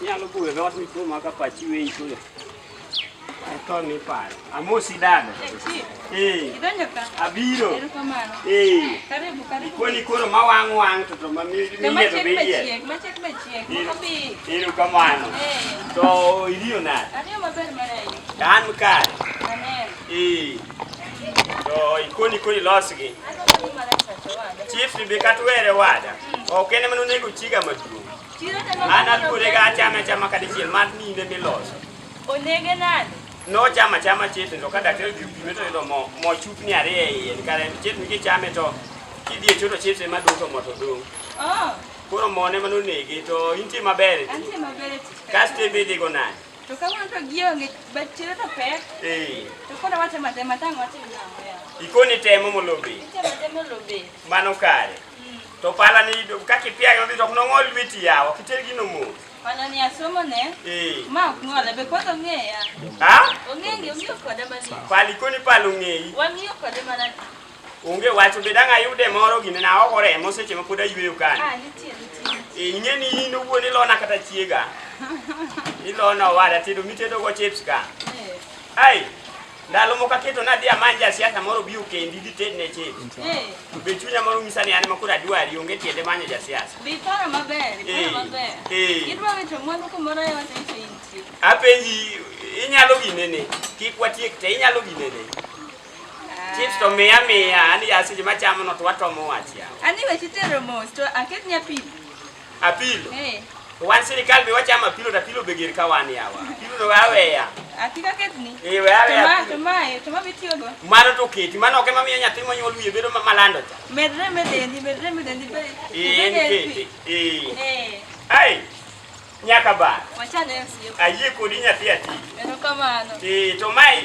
Inyalo buwe dhot mituo ma ka pachi weyi kule. Ito ni paro. Amosi dada. Eh. Idonjo ka. Abiro. Erokamano. Eh. Karibu karibu. Ikoni koro ma wang wang to to ma mi mi to yedo be yie. Ma chek be chiek. Kopi. Erokamano. Eh. To iliyo na. Aliyo maber mara hiyo. Dan mkare. Amen. Eh. To ikoni koni losgi. Chief ni be katwere wada. Ok en ema nonego chiga maduong'. Chiro to no. An aluore ga achame achama kata chiel mar ninde miloso. Onege nade? Nochama chama chete to ka daktari odhi opime to yudo mo mo chupni ariyo e iye kare chete mi kichame to kidhi e choto chete ma dong' to mo to dong'. Oh, Koro mo ne mano nege to intie maber. e ti. antie maber e tich. Kasto ebe idhigo nade? To kawuono to gionge, but chiro to pek. Eh, To koro watemo atema tang' watim nang'o yawa. ikone temo molobe. Itemo atema lobe. Mano kare. To pala ni ido ka kipia yo to no ngol witi yawo kitel gino mo. Pala ni asomo ne. Eh. Ma ok ngol be koto ngeya. Ha? Ongengi ongiyo koda mani. Pali koni palu ngeyi. Wangiyo koda mani. Onge wacho be danga yude moro gine na oko remo seche ma pod ayweyo kani. Ah, nitie nitie. Eh, ing'e ni in owuon ilona kata chiega. Ilona owada tedo mitedo go chips ka. Eh. Ai. Ndalo moko aketo nadhi amany jasiasa moro bi okendi dhi tedne chik. Eh. To be chunya moro nyisa ni an ma koro adwari onge tiende manyo jasiasa. Be iparo maber, iparo eh. maber. Eh. Idwa wito mwandu kumoro e wata iso intie. Apenji inyalo ginene, kik watiek te inyalo ginene. Ah. Chips to miya miya, ani aseche machamo no to watomo wach ya. Ani weche tero mos to aket nyapi. Apilo. Eh. Wan sirkal be wachamo apilo to apilo be ger ka wan yawa. Apilo to aweya. Akika ketni. Eh we aweya. To ma to ma bitiyo go. Mano to keti, mano ok ema miyo nyathi monyuol wiye bedo malando cha. Medre medendi, medre medendi be. Eh, keti. Eh. Eh. Ai. Nyaka ba. Wachane sio. Ayie kodi nyathi ati. Erokamano. Eh, to mai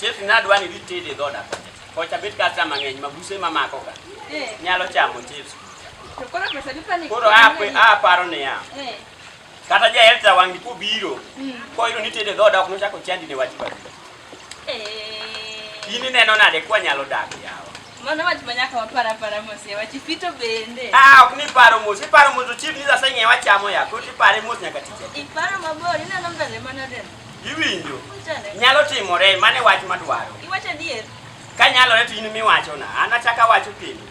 Chef nadwa ni ditede e dhoda kocha bet kata mang'eny mabuse mamako ka eh. nyalo chamo chips koro aparo niya eh. kata jaelta wang'ni kobiro hmm. koyudo ni tede dhoda ok nochako chandi ne wach badi eh. in ineno nade kwa nyalo dak yawa Mano wach ma nyaka wapar apara mos yawa chi fito bende. Ah, ok ni paro mos, iparo mos to chief ni sasa ng'e wachamo ya, koro ipare mos nyaka tije. Iparo mabor, ineno mbele mana den. Iwinjo? Nyalo timore, mano e wach madwaro. Iwacho adier. Ka nyalore to in miwachona, an achako awacho kendo.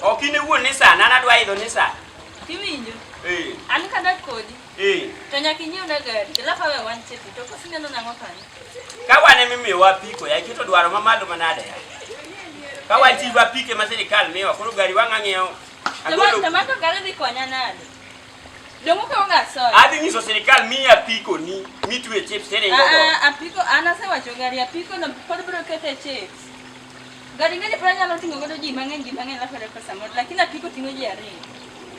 Ok in iwuon ni sana, an adwa idho ni sana. Iwinjo? Eh. An kadak kodi. Eh. To nyaka inyiewna gari, alafu awe wan chepi, to kosi neno nang'o kanyo? Ka wan ema imiyowa apiko, ya iketo dwaro mamalo manade ya. Ka wan chief apike ma sirikal miyowa, koro gari wang'ang'iewo. Agolo. Tamako gari dhi konya nade? Dongoka onga soy. Adhi nyiso sirikal mi apiko ni mitwe chips tere ah, ngogo. Ah, apiko anase wacho gari apiko no pod bro kete chips. Gari ngani pora nyalo tingo godo ji mang'eny ji mang'eny la pera pesa mod lakini apiko tingo ji ariyo.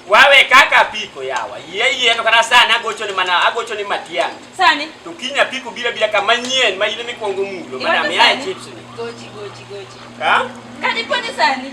Wawe kaka apiko yawa. Yie yie to kana sana agocho ni mana agocho ni matiang. Sani. To kinya apiko bila bila kama nyien ma ile mikwongo mulo mana me chips ni. Gochi gochi gochi. Ha? Kadi poni sani.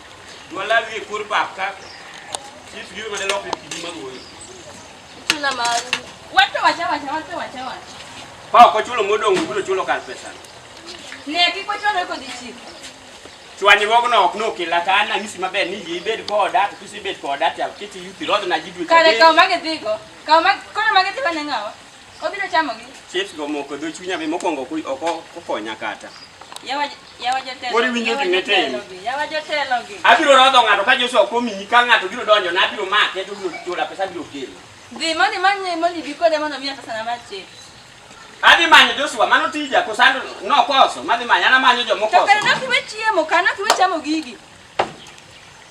Wala wi kur pap ka. Chief gi ma de lok ki di mago. Tuna ma. Wato wacha wacha wato wacha wacha. Pa ko chulo modong ugulo chulo kar pesa. Ne ki ko chulo ko di chief. Chwani wogo no ok no kila ka na ngisi maber ni ji bed ko da to kisi bed ko da ta kiti yuti rodo na jidwe. Kare ka ma ke digo. Ka ma ko ma ke tiba ne ngawa. Obiro chamo gi. Chief go moko do chunya be mokongo ku oko kokonya kata. Yawa Yawa jotelo. Koro iwinjo yawa gima itimo. jotelo gi, Yawa jotelo gi. Abiro rodho ng'ato ka Joshua ok omiyi ka ng'ato biro donjo na abiro make to biro chula pesa biro kelo. Dhi moni manye moni bi kode mondo miya pesa na mar chik. Adhi manyo Joshua mano tija kosando nokoso madhi manyo anamanyo To jomokoso. kare nokiwe chiemo, kare nokiwe chamo gigi.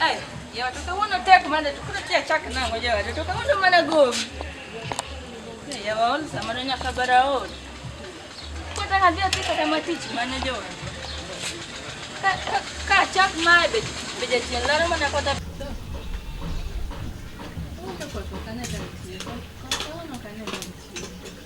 Ai, ya watoka wono tek mane tukuna tia chak nango ya watoka wono mana gom. Ya waon sama no nyaka baraod. Kota ka dia tika kama tich mane jo. Ka ka ka chak mae be be ja tien laro mana kota. Kota kota kana ja tien. Kota wono kana ja tien.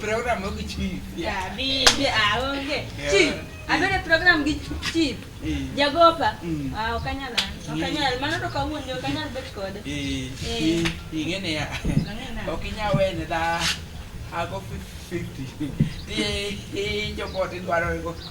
program gi chief. Yeah, bi bi ah onge. Chief, abere program gi chief. Jagopa. Ah okanyal. Okanyal, mano to kawuondi okanyal bet kode. Eh. Eh. Ingene ya. Okinya wene da. Ago 50. Ti ti jopo ti dwaro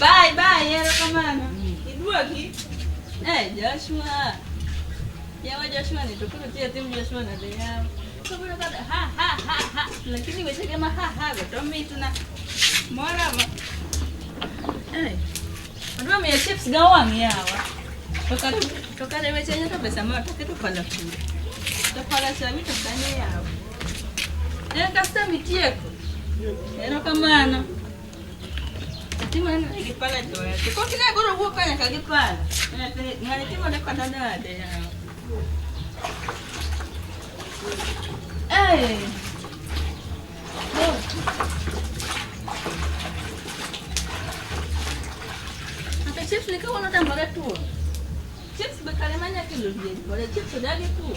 Bye bye, erokamano. Iduoki? Eh, Joshua. Yawa Joshua ni to koro tiyo tim Joshua na de yawa. To koro kada ha ha ha ha. Lakini weche kama ha ha go to mitna. Mora ma. Eh. Adwa miya chips ga wang' yawa. To kata to kata weche nyoto pesa ma to keto pala kule. To pala sami to kanyo yawa. Enkasta mitieko. Erokamano. Timo neno ni gipala jowete. Kok ne goro wuok ka nyaka gipala. Ng'ani timo ne kata nade yawa. Hey. Hata chips ni kama unatambara tu. Chips bakale manya kilo bie. Bora chips dagi tu.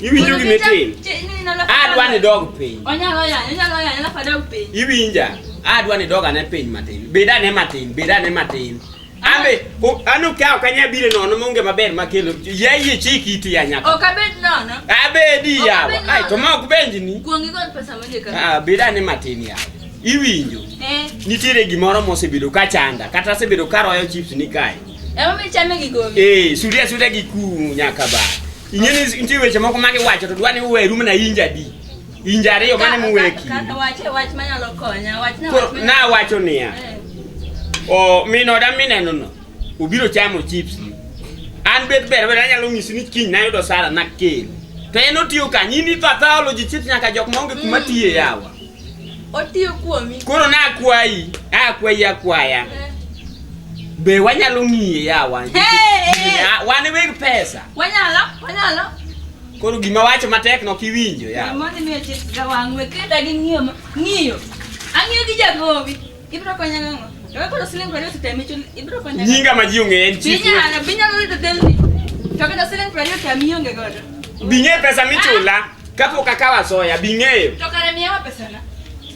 Iwinjo gima itimo? Adwa ni dog piny. Onyalo yanyo, onyalo yanyo alafu adog piny. Iwinja? Adwa ni dog ane piny matin. Bed ane matin, bed ane matin. Ambe, anu ka ok anya bire nono monge maber makelo. Yeye chiki iti ya nyaka. Ok abed nono. Abedi yawa. Ai to ma ok benji ni. Kuongi gol pesa monge kama. Ah, bed ane matin yawa. Iwinjo? Eh. Nitiere gimoro mosebedo ka chanda, kata asebedo ka royo chips ni kae. Ema mi chame gi gowi. Eh, suria suria gi ku nyaka ba. Inyeni nitie weche moko mane wacho to dwani uwe rum na inja di. Inja ariyo mane muweki. Kaka wache wach manyalo konya, wach na wach. Na wacho niya. Eh. O mino da mineno no. Ubiro chamo chips. An bet ber ber anyalo nyisi ni kiny nayudo sara na kel. To en otiyo kanyi ni pathology chips nyaka jok maonge kuma mm. tiye yawa. Otiyo kuomi. Koro na akwayi, na akwayi akwaya. Eh. Be wanyalo ng'iye yawa. Wan weg pesa. Wanyalo, wanyalo. Koro gima wacho matek no kiwinjo yawa. Mama ni me chit gawangwe keda gi ng'iyo, ng'iyo. Ang'iyo gi jagowi. Ibro konyo ng'o? Ewa koro siling prariyo sitemicho, ibro konyo ng'o? Nyinga ma ji ong'eye en chief. Binyalo, binyalo rito delni. To kata siling prariyo temi onge godo. Bing'e pesa michula kapok akawo asoya, bing'eyo. To kare miyawa pesana.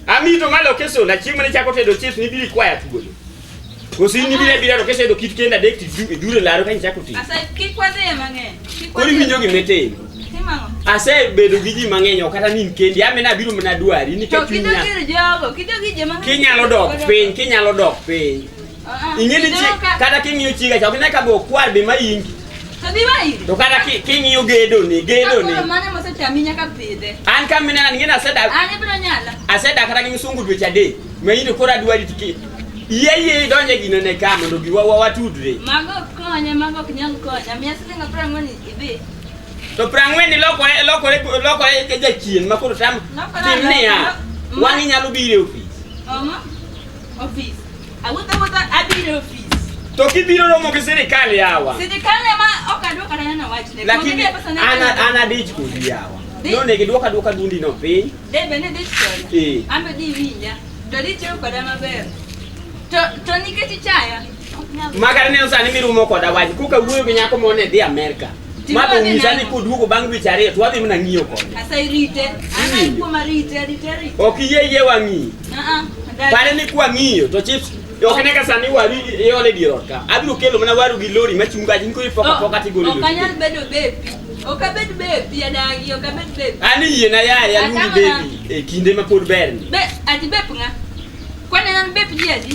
Ami to malo kesona, chieng' mane chako tedo chips ni biri kwaya thuolo. Kosi ni bire bire to kesedo kit kenda dek ti dure laro ka ichako ti. Asa kik wadhi mang'eny. Kik wadhi. Kori winjo gimeteni. Asebedo gi ji mang'eny ok kata ni kendi amena abiro mana dwari nikech chunya. Kinyalo dok piny, kinyalo dok piny. Ah, ah. Ing'e ni chi kata king'iyo chiga cha ok ne ka be okwar be ma ingi. To kata king'iyo gedo ni, gedo ni. An ka minena ni ng'ena asedak. Asedak kata gi msungu dweche adek. Ma in to koro adwari tiki. Yie yie donje gino ne ka mondo giwa watudre. Mago konye, mago ok nyal konye. Miya siling' apar ang'wen idhi. To prang'wen ni lokore lokore lokore ke jachien ma koro tam tim niya. Wang'i nyalo biro e ofis. Omo. Ofis. Awuotho awuotho abiro e ofis. To kibiro romo gi sirikal yawa. Sirikal ema ok adwoko kata neno wachne. Lakini ana ana dich kodi yawa. No ne gidwoka dwoka dundi no piny. Debe ne dich kodi. Eh. Ambe di winja. To ditiyo koda maber. To to nikech ichaya. Makar neno sani mirumo koda wach koka wuoyo gi nyako mone dhi Amerika. Ma to nyisa ni koduogo bang' dweche ariyo to wadhi mana ng'iyo kode. Asa irite. Ana ikuoma rite, rite, rite. Ok iyie iyie wang'iyo. Ah, ah. Pare ni kwa ng'iyo to chips Ok ne ka sani waru iole dier ot ka. Abiro kelo mana waru gi lori ma chunga jin ko ipoka oh, poka tigolo. Ok anyal bedo bepi. Ok abed bepi adagi, ok abed bepi. Ani yie na ya ya lumi bepi e kinde ma pod ber ni. Be ati bep nga. Kwa ne an bep ji adi?